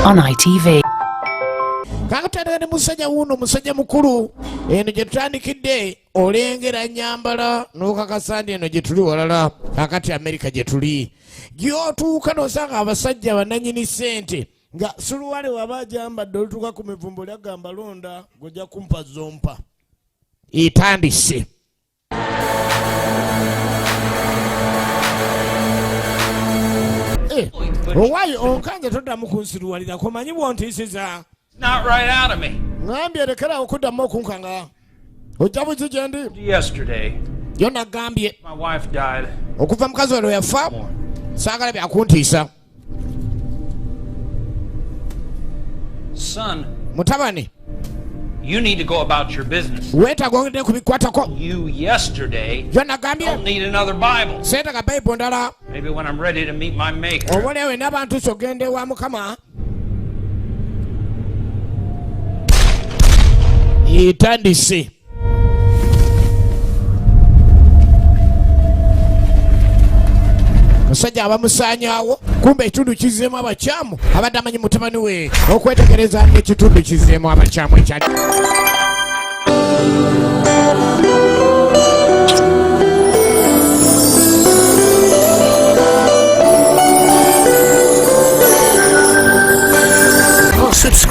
on ITV. kakutandika ne musajja wuuno musajja mukulu eno gye tutandikidde olengera nyambala n'okakasa nti eno gye tuli walala kakati amerika gye tuli gyotuuka nosanga abasajja bananyini ssente nga suluwale waba ajambadde olutuuka ku mivumbo lyagamba londa gojja kumpa zompa etandise Eh, owaye onkanze toddamu kunsiruwalira komanyi bwontisiza ngambye lekera okuddamu okunkanga ojja buzi gyendi yo nagambye okuva mukazi wano yafa saagala byakuntiisa Son, mutabani you need to go about your business. weetaaga ogende ku bikwatako You yesterday byonagambye don't need another Bible. seetaga bayibuli ndala Maybe when I'm ready to meet my maker. obolewo ena abantu kyo ogenda ewa mukama itandise omusajja abamusaanyawo kumba ekitundu kizeemu abakyamu abadde amanyi mutabani we okwetegereza ngaekitundu kizeemu abakyamu ekyali